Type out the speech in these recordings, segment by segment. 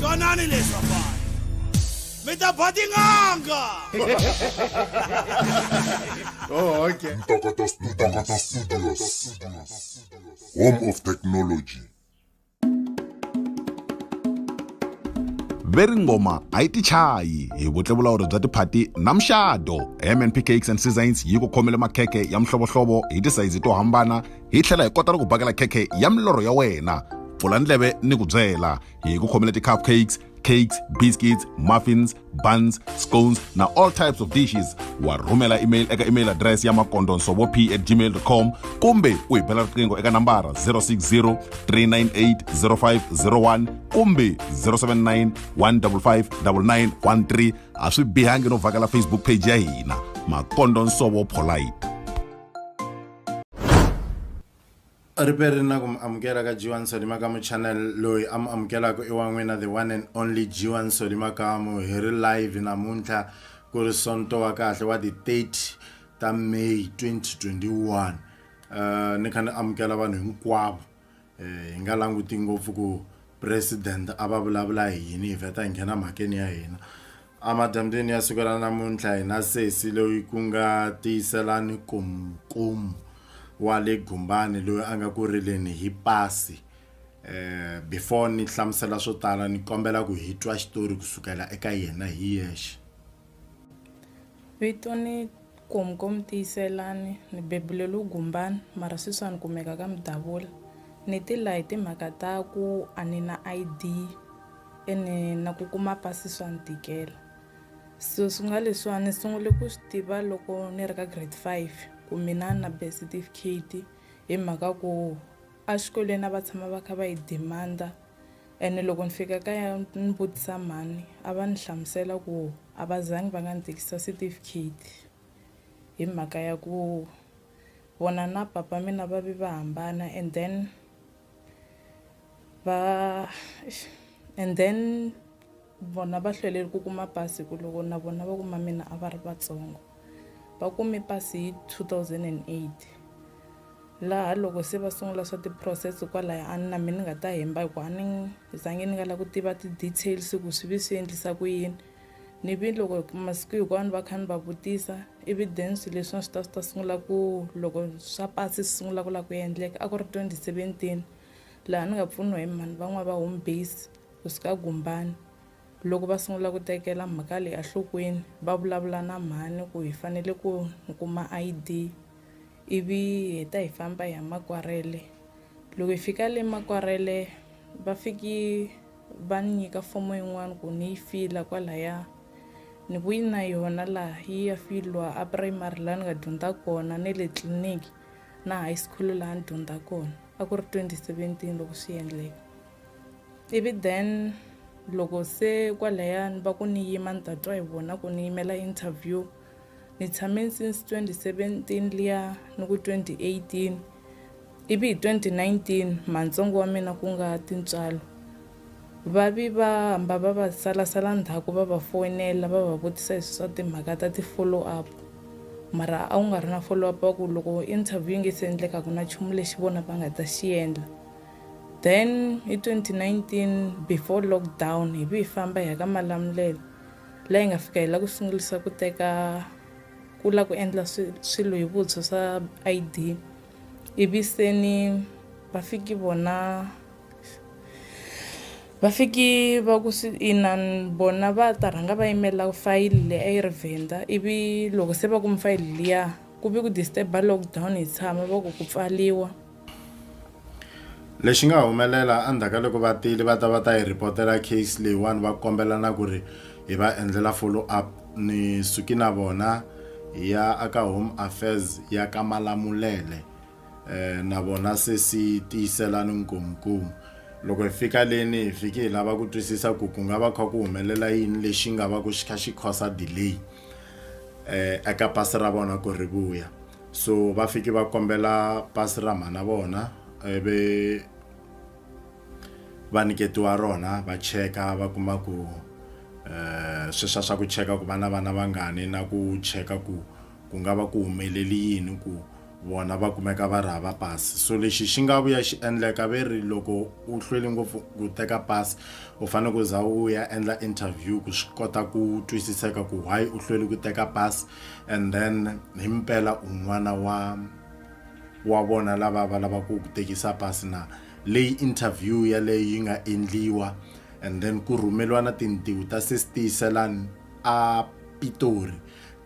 twanani leswi vafana mi ta ba tin'anga oh, okay. Ntokoto Studios. Home of Technology. veri ngoma a yi tichayi hi vutlevulawuri bya tiphati na muxado mnp cakes and seasons yi ku khomele makhekhe ya mihlovohlovo hi tisayizi to hambana hi tlhela hi kota ni ku bakela khekhe ya milorho ya wena pfula ndleve ni ku byela hi ku khomela ti-cup cakes cakes biscuits muffins buns scones na all types of dishes wa rhumela email eka email address ya makondonsovo p at gmail com kumbe u hi bela riqingho eka nambara 060 398 0501 kumbe 079 155 9913 a swi bihangi no vhakela facebook page ya hina makondonsovo polite ri peri na ku mi amukela ka jiwani solimakamu channel loyi a mi amukelaka i wa n'wina the one and only jiwani solimakamu hi ri live namuntlha ku ri sonto wa kahle wa ti-30 ta may 2021 um eh, ni kha ni amukela vanhu hinkwavo um hi nga languti ngopfu ku president a va vulavula hi yini hi vheta hi nghena mhakeni ya hina amadyambyeni ya siku ra namuntlha hina sesi loyi ku nga tiyiselani kumkumu wa le gumbani loyi a nga ku rileni hi pasi eh before ni hlamusela swo tala ni kombela ku hi twa xitori kusukela eka yena hi yexe Vito ni Komkom tiyiselani ni bebule lu gumbani mara sweswi a ni kumeka ka mudavula ni ti la hi timhaka ta ku a ni na I_D ene na ku kuma pasi swa ni tikela so swi nga leswiwani ni sungule ku swi tiva loko ni ri ka grade five ku mina na birth certificate hi mhaka ku a xikolweni a va tshama va kha va yi demand-a. ene loko ni fika kaya ni vutisa mhani a va ni hlamusela ku a va zangi va nga ni tekisa certificate hi mhaka ya ku vona na papa mina va ve va hambana and then va and then Vona va hlwelele ku kuma pasi hikuva loko na vona vakumamina a va ri vatsongo. Va kume pasi hi 2008 laha loko se va sungula swa ti-process kwalaya a na mina ni nga ta hemba hikuva a ni zangi ni nga lava ku tiva ti-details ku swi vi swi endlisa ku yini. Ni vi loko masiku hinkwawo ni va kha ni va vutisa ivi then swilo leswiwani swi ta swi ta sungula ku loko swa pasi swi sungula ku lava ku endleka a ku ri 2017 laha ni nga pfuniwa hi mhani van'wana va home base. Hosi ka Gumbani loko va sungula ku tekela mhaka leyi enhlokweni va vulavula na mhani ku hi fanele ku ni kuma I_D ivi hi heta hi famba hi ya Makwarhele loko hi fika le Makwarhele va fiki va ni nyika fomo yin'wani ku ni yi fila kwalaya ni vuyi na yona laha yi ya filiwa a primary laha ni nga dyondza kona ne le tliliniki na high school laha ni dyondza kona a ku ri twenty seventeen loko swi endleka. ivi then loko se kwalayani va ku ni yima ni ta twa hi vona ku ni yimela interview ni tshame since 2017 liya ni ku 2018 ivi hi 2019 mantsongo wa mina ku nga tintswalo va vi va hamba va va salasala ndzhaku va va foyinela va va vutisa hi swa timhaka ta ti-follow up mara a wu nga ri na follow up wa ku loko interview yi nge se endleka ku na nchumu lexi vona va nga ta xi endla Then hi 2019 before lockdown hi vi hi famba hi ya ka Malamulele la hi nga fika hi la ku sungulisa ku teka ku la ku endla swilo hi vutshwa swa ID ivi se ni va fiki vona va fiki va ku swi inan vona va ta rhanga va yimela fayili leyi a yi ri vhenda ivi loko se va kume fayili liya ku vi ku disturb-a lockdown hi tshama va ku ku pfaliwa. Lexi nga humelela endzhaku ka loko vatili va ta va ta yi report-ela case leyiwani va kombela na ku ri hi va endlela follow up ni suki na vona hi ya a ka home affairs ya ka Malamulele na vona se si tiyisela ni nkomunkomu loko hi fika leni hi fiki hi lava ku twisisa ku ku nga va kha ku humelela yini lexi nga va ku xi kha xi cause delay eka pasi ra vona ku ri vuya. so va fike va kombela pasi ra mhana vona ivi va nyiketiwa rona va cheka va kuma ku um sweswa swa ku cheka ku va na vana vangani na ku cheka ku ku nga va ku humeleli yini ku vona va kumeka va ri hava pasi so lexi xi nga vuya xi endleka ve ri loko u hlweli ngopfu ku teka pasi u fanele ku za u ya endla interview ku swi kota ku twisiseka ku why u hlweli ku teka pasi And then himpela u n'wana wa wa vona lava va lava ku tekisa pasi na leyi interview yaleyo yi nga endliwa and then ku rhumeliwa na tintiho ta sestiyiselani a pitori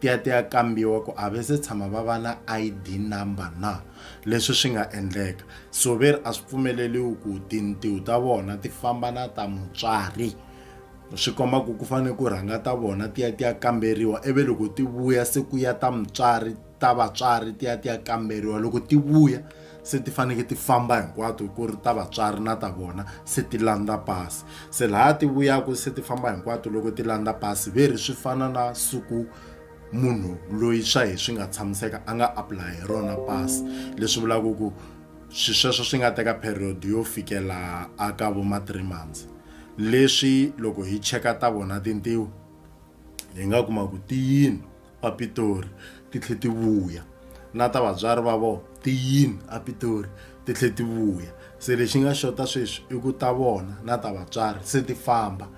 ti ya ti ya kambiwa ku a ve se tshama va va na id number na leswi swi nga endleka so ve ri a swi pfumeleliwi ku tintiho ta vona ti famba na ta mutswari swi komba ku ku fanele ku rhanga ta vona ti ya ti ya kamberiwa ivi loko ti vuya se ku ya ta mutswari ta vatswari ti ya ti ya kamberiwa loko ti vuya se ti faneke ti famba hinkwato ku ri ta vatswari na ta vona se ti landza pasi se laha ti vuyaka se ti famba hinkwato loko ti landza pasi ve ri swi fana na siku munhu loyi swa hi swi nga tshamiseka a nga apply hi rona pasi leswi vulaka ku swi sweswo swi nga teka period yo fikela a ka vo ma three months Leswi loko hi cheka ta vona tintiho hi nga kuma ku ti yini a Pitori ti tlhe ti vuya na ta vatswari va vona ti yini a Pitori ti tlhe ti vuya se lexi nga xota sweswi i ku ta vona na ta vatswari se ti famba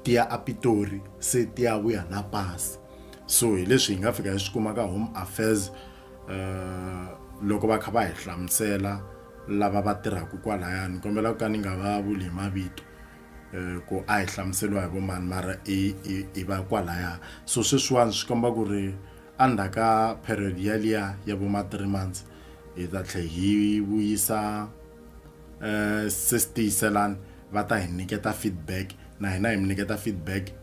ti ya a Pitori se ti ya vuya na pasi so hi leswi hi nga fika hi swi kuma ka home affairs loko va kha va hi hlamusela. lava va tirhaka kwalaya ni kombela ku ka ni nga va vuli hi mavito um ku a hi hlamuseriwa hi vomani mara hi va kwalaya so sweswiwani swi komba ku ri endzhaku ka period yaliya ya vo ma three months hi ta tlhe hi vuyisa um se sitiyiselani va ta hi nyiketa feedback na hina hi mi nyiketa feedback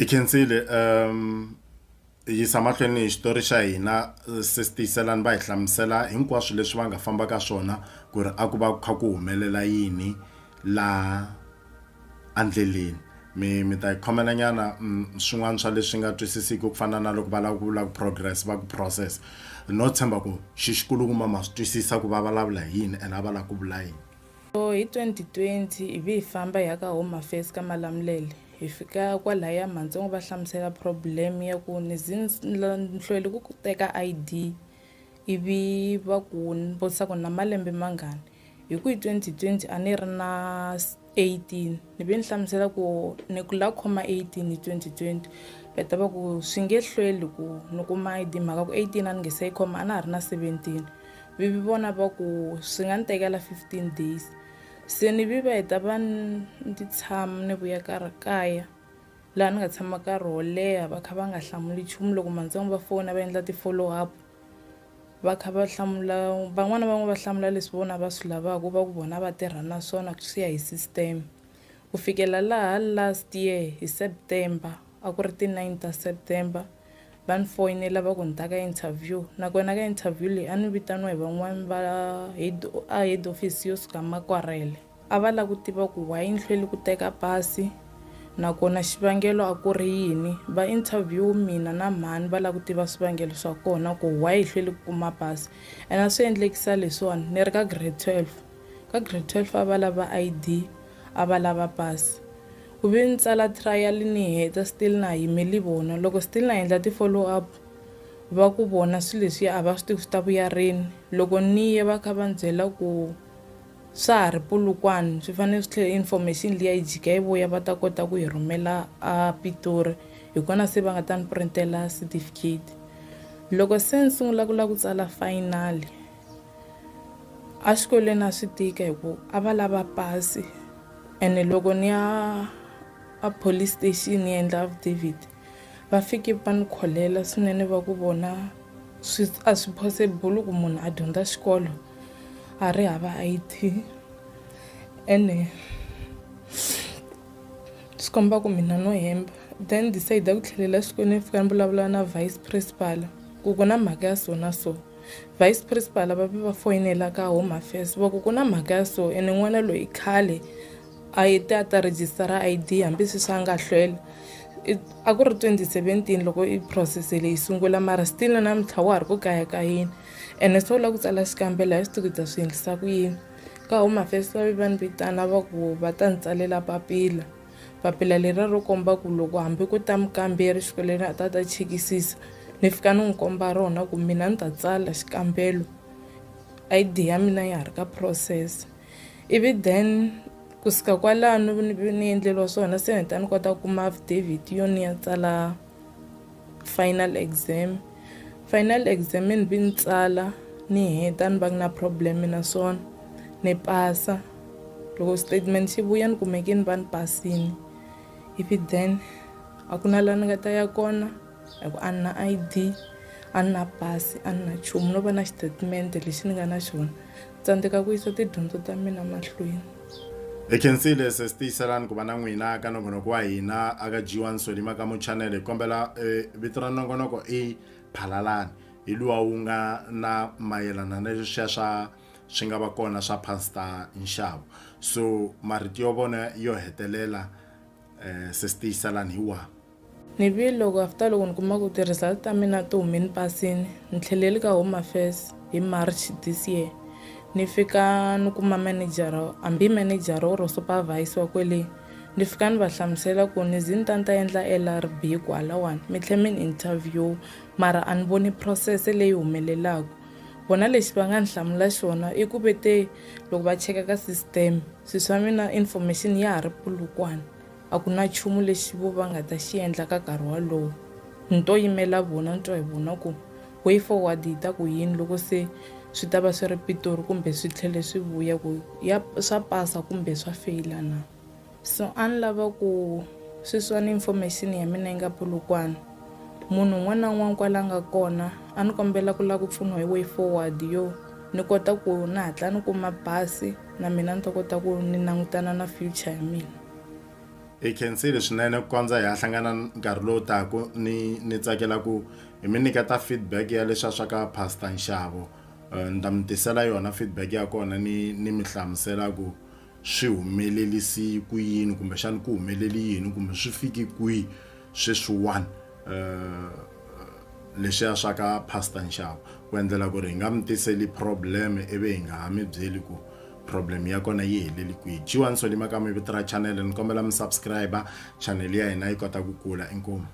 I khensile um yisa mahlweni hi xitori xa hina sesi tiyiselani va hi hlamusela hinkwaswo leswi va nga famba ka swona ku ri a ku va ku kha ku humelela yini laha endleleni mi mi ta yi khomela nyana swin'wana swa leswi nga twisisiki ku fana na loko va lava ku vula ku progress va ku process no tshemba ku xi xikulukumba ma swi twisisa ku va vulavula hi yini ene a va lava ku vula yini. So hi 2020 hi vi hi famba hi ya ka Home Affairs ka Malamulele hi fika kwalaya Mantsongo va hlamusela problem ya ku ni hlweli ku teka ID ivi va ku ni vutisa ku na malembe mangani hi ku hi 2020 a ni ri na 18 ni ve ni hlamusela ku ni ku la khoma 18 hi 2020 va ta va ku swi nge hlweli ku ni kuma ID mhaka ku 18 a ni nge se yi khoma a na ha ri na 17 Vi vi vona va ku swi nga ni tekela 15 days se ni vi va hi ta va ni tshama ni vuya ka ri kaya laha ni nga tshama nkarhi wo leha va kha va nga hlamuli nchumu loko mantsongo va fona va endla ti-follow up va kha va hlamula van'wana van'we va hlamula leswi vona va swi lavaka va ku vona va tirha na swona swi ya hi system ku fikela laha last year hi September A ku ri ti 9 ta September va ni foyinela va ku ni ta ka interview nakona ka interview leyi a ni vitaniwa hi van'wani va head a head office yo suka Makwarhele a va la ku tiva ku why ni hlweli ku teka pasi nakona xivangelo a ku ri yini va interview mina na mhani va la ku tiva swivangelo swa kona ku why hi hlweli ku kuma pasi ene a swi endlekisa leswiwani ni ri ka grade 12 Ka grade 12 a va lava ID, a va lava pasi. Ku ve ni tsala trial ni yi heta still na ha yimeli vona. Loko still na endla ti-follow up va ku vona swilo leswiya a va swi tivi swi ta vuya rini. Loko ni ye va kha va ni byela ku swa ha ri Polokwane swi fanele swi tlhela information liya yi jika yi vuya va ta kota ku yi rhumela a Pitori hi kona se va nga ta ni print-ela certificate. Loko se ni sungula ku lava ku tsala final. a xikolweni a swi tika hi ku a va lava pasi ene loko ni ya a police station ni endla affidavit va fike va ni kholela swinene va ku vona swi a swi possible ku munhu a dyondza xikolo a ri hava I_D ene swi komba ku mina no hemba then decide ku tlhelela xikolweni ni fika ni vulavula na vice principal ku ku na mhaka ya so na so vice principal va ve va foyinela ka home affairs va ku ku na mhaka ya so ene n'wana loyi khale a yi te a ta rejistara id hambi sweswi a nga hlwela a ku ri 2017 loko i process leyi sungula mara still na namuntlha wa ha ri ku kayakayini ene se u lava ku tsala xikambelo hi swi tivi ta swi endlisa ku yini ka home affairs va ve va ni vitana va ku va ta ni tsalela papila Papila leriya ro komba ku loko hambi ku ta mukamberi xikolweni a ta ta chekisisa ni fika ni n'wi komba rona ku mina ni ta tsala xikambelo id ya mina ya ha ri ka process ivi then ku suka kwalano ni endleriwa swona se ni ta ni kota ku kuma affidavit yo ni ya tsala final exam final exam ni vi ni tsala ni heta ni va ku na problem naswona ni pasa loko statement xi vuya ni kumeke ni va ni pasini ivi then a ku na laha ni nga ta ya kona hi ku a ni na I_D a ni na pasi a ni na nchumu no va na xitatimende lexi ni nga na xona Tsandzeka ku yisa tidyondzo ta mina mahlweni. Hi khensile sesi tiyiselani ku va na n'wina ka nongonoko wa hina aka dyiwa nsoli makamu channel hi kombela e vito ra nongonoko i phalalani hi luwa wu nga na mayelana na leswiya swa swi nga va kona swa pastor nxavo so marito yo vona yo hetelela sesi tiyiselani hi wahi. Ni vi loko after loko ni kuma ku ti-result ta mina ti hume ni pasini ni tlheleli ka Home Affairs hi March this year ni fika ni kuma manejara hambi manejara or supervisor wa kwele ni fika ni va hlamusela ku ni ze ni ta ni ta endla L_R_B hi ku halawani mi tlhe mi ni interview mara a ni voni process leyi humelelaku vona lexi va nga ni hlamula xona i ku ve te loko va cheka ka system swi swa mina information ya ha ri pulukwana. A ku na nchumu lexi vo va nga ta xi endla ka nkarhi wolowo. Ni to yimela vona ni twa hi vona ku way forward yi ta ku yini loko se swi ta va swi ri Pitori kumbe swi tlhele swi vuya ku ya swa pasa kumbe swa feyila na. So a ni lava ku sweswiwani information ya mina yi nga Polokwane. Munhu un'wana na un'wana kwala a nga kona a ni kombela ku lava ku pfuniwa hi way forward yo ni kota ku ni hatla ni kuma bus na mina ni ta kota ku ni langutana na future ya mina. Hi khensile swinene ku kondza hi ya hlangana nkarhi lowu taka ni ni tsakela ku hi mi nyiketa feedback ya leswa swa ka Pastor Nxavo eh, ni ta mi tisela yona feedback ya kona ni ni mi hlamusela ku swi humelelisi ku yini kumbexana ku humeleli yini kumbe swi fiki kwihi sweswiwani eh, leswiya swa ka Pastor Nxavo ku endlela ku ri hi nga mi tiseli problem ivi hi nga ha mi byeli ku problem ya kona yi heleli kwihi jiwani soni makama vito ra chanele ni kombela mi subscribe chanele ya hina yi kota ku kula inkomu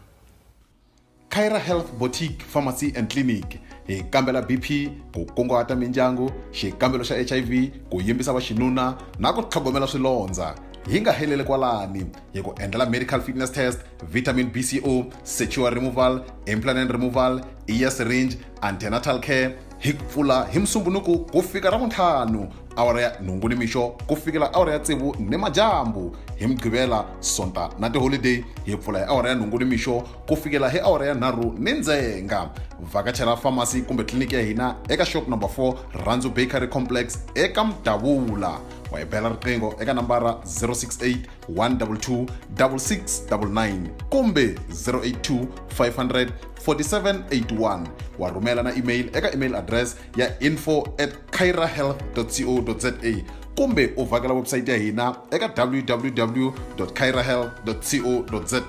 Kyra Health Boutique Pharmacy and Clinic hi kambela BP ku kunguhata mindyangu xikambelo xa HIV ku yimbisa vaxinuna na ku tlhogomela swilondza hi nga heleli kwalani hi ku endlela medical fitness test vitamin bco sexual removal implanent removal ear syringe antenatal care hi pfula hi musumbunuku ku fika ra vuntlhanu awara ya nhungu ni mixo ku fikela awara ya tsevu ni madyambu hi mugqivela sonta na tiholideyi hi pfula hi awara ya nhungu ni mixo ku fikela hi awara ya nharhu ni ndzenga vhakachela famasi kumbe tliliniki ya hina eka shop number 4 randzu bakery complex eka mudavula wa hi bela riqingho eka nambara 068 122 6699 kumbe 082 500 4781 wa rhumela na email eka email address ya info at cairahealth co za kumbe u vhakela website ya hina eka www cairahealth co za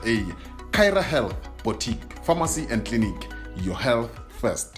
caira health boutique pharmacy and clinic your health first